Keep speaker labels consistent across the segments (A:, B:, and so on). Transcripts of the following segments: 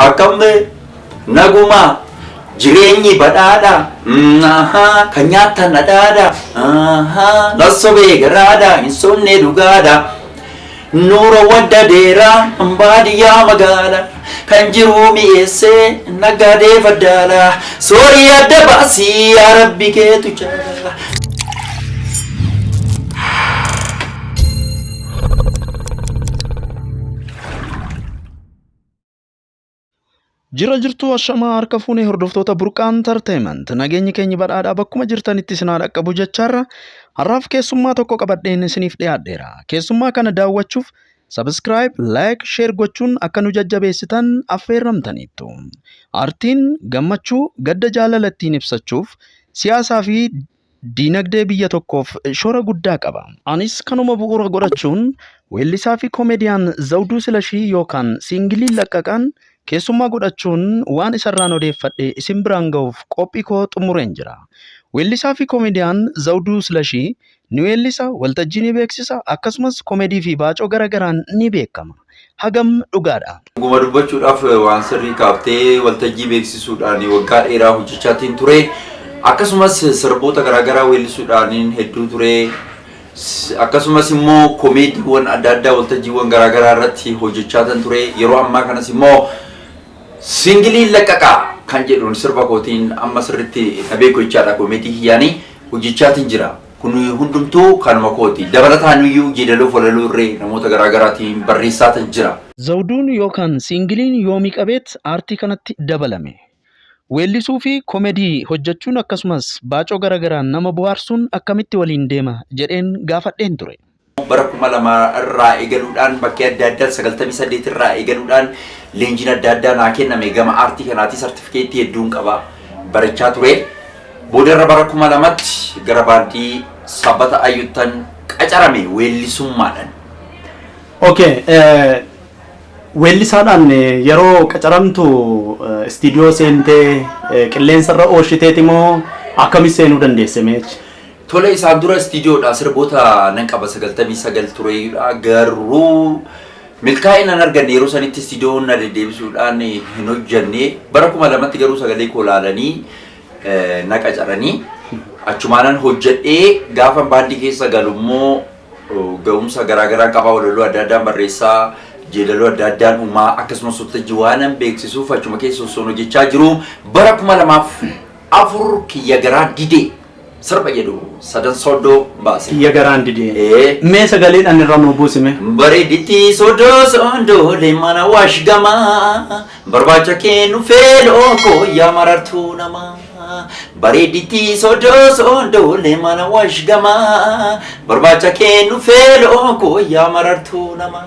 A: Akkam mee nagumaa jireenyi badhaadha ahaa kan nyaattan dhadhaadha ahaa nassobee garaadha hin sobne dhugaadha nuura wadda deeraa baadiyyaa magaala kan jiruu mi'eessee naggaadee faddaala soorii adda baasii yaa rabbi keetu jaala.
B: Jira jirtuu ashamaa harka fuunee hordoftoota burqaa entertainment nageenyi keenya badhaadhaa bakkuma jirtanitti isin haa dhaqqabu jechaarra har'aaf keessummaa tokko qabadheen isiniif dhiyaadheera. Keessummaa kana daawwachuuf sabiskiraayib, laayik, sheer gochuun akka nu jajjabeessitan affeerramtaniittu. Aartiin gammachuu gadda jaalala ittiin ibsachuuf siyaasaa fi diinagdee biyya tokkoof shoora guddaa qaba. Anis kanuma bu'uura godhachuun weellisaa fi koomediyaan Zawduu Silashii yookaan siingiliin Laqqaqaan keessummaa godhachuun waan isarraan odeeffadhe isin biraan gahuuf qophii koo xumureen jira. Weellisaa fi koomediyaan Zawduu Silashii ni weellisa, waltajjii ni beeksisa, akkasumas koomedii fi baacoo gara garaan ni beekama. hagam dhugaadha? Dhuguma dubbachuudhaaf
A: waan sirrii kaafte, waltajjii beeksisuudhaan waggaa dheeraa hojjechaatiin ture. Akkasumas sirboota garaagaraa weellisuudhaaniin hedduu ture. Akkasumas immoo komeediiwwan adda addaa waltajjiiwwan garaagaraa irratti hojjechaatan ture. Yeroo ammaa kanas immoo singiliin laqqaqaa kan jedhuun sirba kootiin amma sirriitti na beeku jechaadha komeedii kiyyaanii hojjechaatiin jira. Kun hundumtuu kanuma kooti. Dabalataan iyyuu yeedaloof walaloo irree namoota garaa garaatiin barreessaatan jira. Zawduun yookaan
B: siingiliin Yoomii Qabeet aartii kanatti dabalame. Weellisuu fi komedii hojjechuun akkasumas baacoo gara garaan nama bohaarsuun akkamitti waliin deema jedheen gaafadheen ture. Bara 2000
A: irraa eegaluudhaan bakkee adda addaan 98 irraa eegaluudhaan leenjiin adda addaa naa kenname gama aartii kanaatii sartifikeettii hedduun qaba barachaa ture. Boodarra bara 2000tti gara baandii sabbata ayyuttan qacarame weellisummaadhaan.
C: Okay, eh, weellisaadhaan eh, yeroo qacaramtu eh, istiidiyoo seentee eh, qilleensa irra oolshiteeti moo akkamis seenuu dandeesse meechi? Tole isaan dura
A: istiidiyoodhaa sirboota nan qaba sagaltamii sagal tureeyudha garuu milkaa'ina hin arganne yeroo sanitti istiidiyoon na deddeebisuudhaan hin hojjanne bara kuma lamatti garuu sagalee koo laalanii eh, na qacaranii achumaanan hojjedhee gaafa baandii keessa galu immoo oh, ga'umsa garaagaraan qabaa walaloo adda addaan barreessaa jeedaloo adda addaan uumaa akkasumas sotajji waanan beeksisuuf achuma keessa osoo hojjechaa jiru bara kuma lamaaf afur kiyya garaa didee Sirba jedhu sadan soddoo baase. Kiyya garaan didee.
C: Ee. Mee sagaleedhaan irra nuu buusi mee. Bareedditti
A: soddoo soddoolee mana waash gamaa barbaacha kennu feeloo koo yaa marartuu namaa. Bareedditti soddoo soddoolee mana waash gamaa barbaacha kennu feeloo koo yaa marartuu namaa.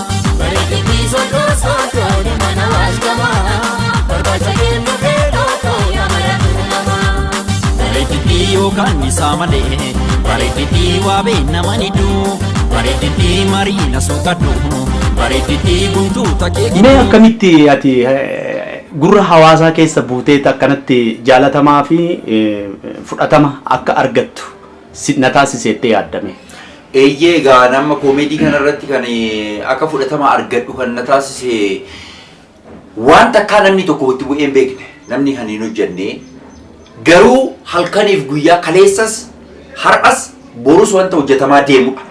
A: Bareeddii yookaan isaa malee bareeddii waa beeknama ni duu bareeddii marii na soqadhu bareeddii guntuu takee
C: Mee akkamitti ati eh, gurra hawaasaa keessa buuteet akkanatti jaalatamaa fi eh, fudhatama akka argattu si- na taasiseettee yaaddame. Eeyyee egaa
A: ani amma koomeedii kana irratti kan akka fudhatama argadhu kan na taasise waan takkaa namni tokko itti bu'ee hin beekne namni kan hin hojjenne garuu halkaniif guyyaa kaleessas har'as borus wanta hojjetamaa deemudha.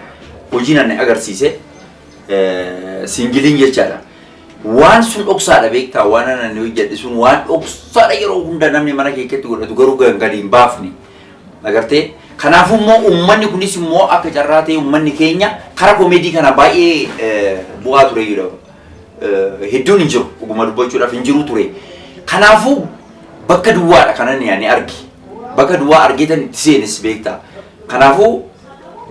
A: Hojiin ani agarsiise siingiliin jechaadha. Waan sun dhoksaadha beektaa waan ani hojjedhe sun waan dhoksaadha yeroo hunda namni mana keessatti godhatu garuu kan gadi hin baafne Agartee? Kanaafuu immoo uummanni kunis immoo akka carraa ta'ee uummanni keenya kara komeedii kana baay'ee eh, bu'aa ture jedha. Eh, Hedduun hin jiru dhuguma dubbachuudhaaf hin jiru ture. Kanaafuu bakka duwwaadha kanan yaani arge. Bakka duwwaa argeetan itti seenes beektaa. Kanaafuu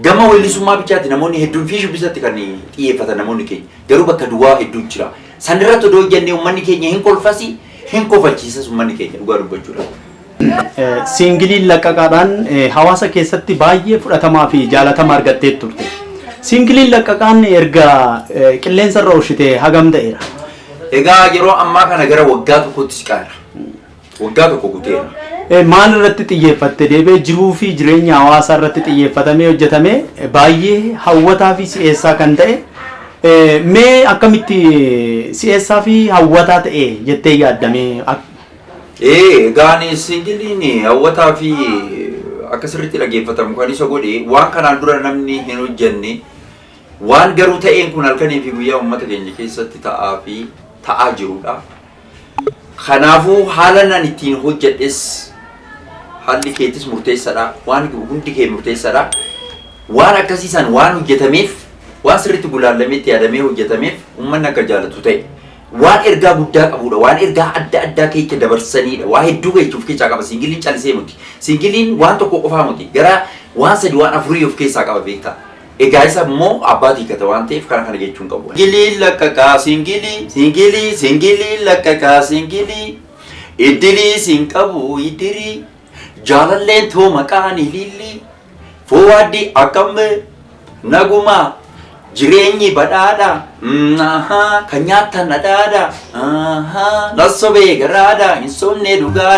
A: gama weellisummaa bichaatti namoonni hedduun fi shubbisatti kan xiyyeeffatan namoonni keenya. Garuu bakka duwwaa hedduu jira. San irratti odoo hojjannee uummanni keenya hin kolfasi hin kofalchiisas uummanni keenya dhugaa dubbachuudhaaf. Siingiliin
C: laqqaqaadhaan hawaasa keessatti baay'ee fudhatamaa fi jaalatama argattee turte. Siingiliin laqqaqaan erga qilleensa irra oolchite hagam ta'eera? Egaa yeroo
A: ammaa kana gara waggaa tokkotti siqaa jira. Waggaa tokko guuteera. Maal irratti
C: xiyyeeffatte deebi'ee jiruu fi jireenya hawaasaa irratti xiyyeeffatamee hojjetame baay'ee hawwataa fi si'eessaa kan ta'e mee akkamitti si'eessaa fi hawwataa ta'e jettee yaaddamee Ee
A: egaan singiliin hawwataa fi akka sirriitti dhaggeeffatamu kan isa godhe waan kanaan dura namni hin hojjenne waan garuu ta'een kun halkanii fi guyyaa uummata keenya keessatti ta'aa fi ta'aa jirudha. Kanaafuu haala nan ittiin hojjedhes haalli keetis murteessadha. Waan hundi kee murteessadha. Waan akkasii san waan hojjetameef waan sirriitti gulaallameetti yaadamee hojjetameef uummanni akka jaalatu ta'e. Waan ergaa guddaa qabuudha. Waan ergaa adda addaa keecha dabarsaniidha. Waa hedduu keecha of keessaa qaba. Siingiliin calisee muti. Siingiliin waan tokko qofaa muti. Gara waan sadi waan afurii of keessaa qaba beektaa. Egaa isa immoo abbaatu hiikata waan ta'eef kana kana jechuun qabu. Siingiliin laqqaqaa siingilii siingilii siingiliin laqqaqaa siingilii iddilii siin qabu iddirii jaalalleen too maqaan iliillii. Foowaaddi akkam naguma jireenyi badhaadha kan nyaattan dhadhaadha nassobee garaadha hin sobne dhugaa.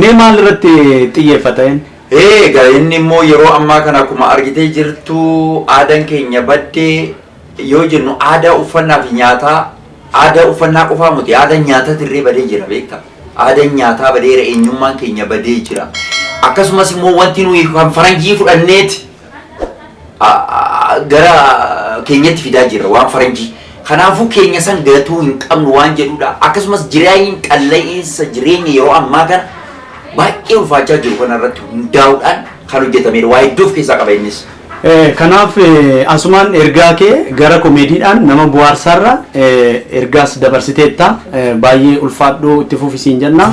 C: Mee maal irratti xiyyeeffata inni? Eega
A: inni immoo yeroo ammaa kana akkuma argitee jirtu aadan keenya badde yoo jennu aadaa uffannaa fi nyaataa aadaa uffannaa qofaa muti aadan nyaatati irree badee jira beekta aadan nyaataa badeera eenyummaan keenya badee jira akkasumas immoo wanti nuyi kan faranjii fudhanneeti a- a- gara keenyatti fidaa jirra waan faranjii. Kanaafuu keenya san gatuu hin qabnu waan jedhudha. Akkasumas jireenyi qalla'iinsa jireenya yeroo ammaa kana baay'ee ulfaachaa jiru kana irratti hundaa'uudhaan kan hojjetamedha. Waa hedduu of keessaa qaba innis. Eh, Kanaaf
C: eh, asumaan ergaa kee gara komeediidhaan nama buhaarsaarra eh, ergaas dabarsiteetta Eh, baay'ee ulfaadhuu itti fufisiin jenna.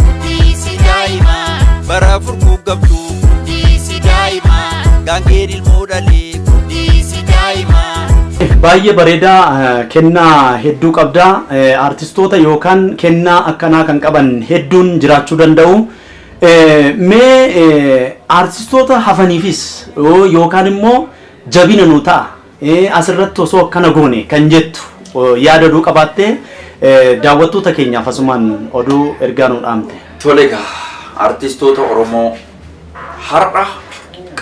A: Guddiisi daa'ima. Bara furguggabdu. Guddiisi daa'ima. Gaangeen ilmoo dhalee. Guddiisi daa'ima. Baay'ee
C: bareeda kennaa hedduu qabda. Artistoota yookaan kennaa akkanaa kan qaban hedduun jiraachuu danda'u. Mee artistoota hafaniifis yookaan immoo jabina nu ta'a. As irratti osoo akkana goone kan jettu yaada odoo qabaattee daawwattoota keenyaaf asumaan oduu ergaa nuu dhaamte. Tole egaa
A: artistoota Oromoo har'a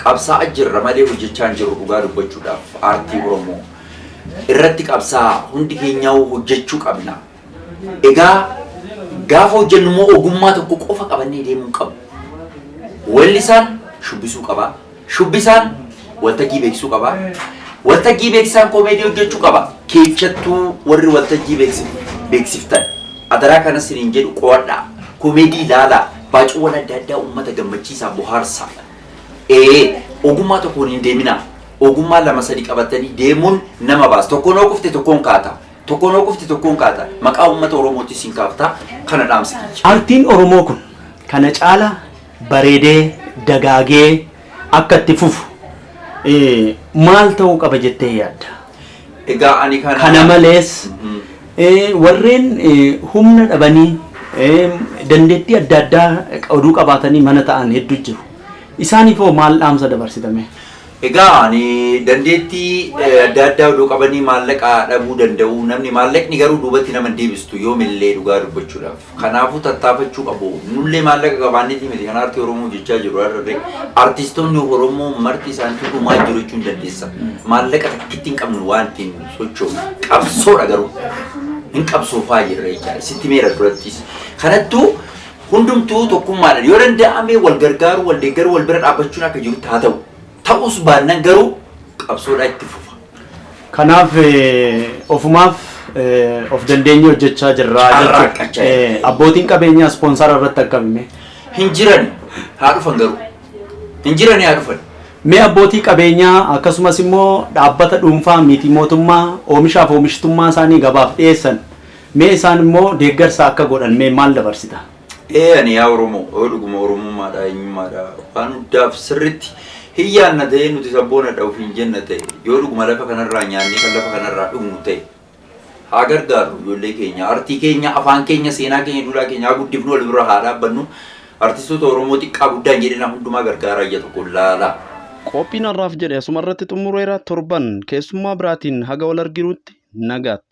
A: qabsaa'a jirra malee hojjechaa hin jirru dhugaa dubbachuudhaaf aartii Oromoo irratti qabsaa'a hundi keenyaawuu hojjechuu qabna. Egaa gaafa hojjennu immoo ogummaa tokko qofa qabannee deemuu hin qabnu. Weellisaan shubbisuu qaba. Shubbisaan waltajjii beeksisuu qaba. Waltajjii beeksisaan koomeedii hojjechuu qaba. Keessattuu warri waltajjii beeksiftan adaraa kana isiniin jedhu qo'adhaa. Koomeedii ilaalaa. Baacuuwwan adda addaa uummata gammachiisaa bohaarsaa. Ee ogummaa tokkoon hin deeminaa. Ogummaa lama sadi qabatanii deemuun nama baasa. Tokkoon hoo kufte tokkoon kaata. Tokkoon yoo kufte tokkoon kaata. Maqaa uummata Oromootiin siin kaafta. Kana dhaamsi kiyya. Artiin Oromoo kun
C: kana caala bareedee dagaagee akka itti fufu eh, maal ta'uu qaba jettee yaadda? Egaa ani
A: kana... Kana malees
C: Mhm. eh, warreen eh, humna dhabanii eh, dandeettii adda addaa oduu qabaatanii mana ta'an hedduu jiru. Isaaniif hoo maal dhaamsa dabarsitame? Egaa ani
A: dandeettii adda addaa odoo qabanii maallaqa dhabuu danda'u. Namni maallaqni garuu duubatti nama hin deebistu yoomillee dhugaa dubbachuudhaaf. Kanaafuu tattaafachuu qabu. Nullee maallaqa qabaanneetii miti kan aartii Oromoo hojjechaa jirru har'arree. Artistoonni Oromoo marti isaaniitu dhumaa jiru jechuun dandeessa. Maallaqa takkitti hin qabnu waan ittiin sochoofnu. Qabsoodha garuu. Hin qabsoofaa jirra jechaadha. Sitti meera durattis. Kanattuu Hundumtuu tokkummaadhaan yoo danda'ame wal gargaaruu, wal deeggaruu, wal bira dhaabbachuun akka jirutti haa ta'u. Ta'uus baannan garuu qabsoodhaa itti fufa. Kanaaf
C: ofumaaf of dandeenyee hojjechaa jirra jechuudha. Abbootiin qabeenyaa ispoonsara irratti akkamime? Hin jiran
A: haa dhufan garuu. Hin jiran haa dhufan. Mee abbootii
C: qabeenyaa akkasumas immoo dhaabbata dhuunfaa miti mootummaa oomishaaf oomishtummaa isaanii gabaaf dhiyeessan Mee isaan immoo deeggarsa akka godhan mee maal dabarsita? Ee ani yaa
A: Oromoo, yoo dhuguma Oromummaa dha, eenyummaa dha, waan hundaaf sirritti hin yaadna ta'ee, nuti sabboona dha ofiin jenna ta'e, yoo dhuguma lafa kana irraa nyaannee kan lafa kana irraa dhugnu ta'e, haa gargaarru ijoollee keenya, artii keenya, afaan keenya, seenaa keenya, duudhaa keenya haa guddifnu, wal bira haa dhaabbannu, artistoota Oromoo xiqqaa guddaa hin jedhinaa hundumaa gargaaraa ija tokkoon laalaa. Qophiin
B: har'aaf jedhe asuma irratti xumureera. Torban keessummaa biraatiin haga wal arginutti nagaatti.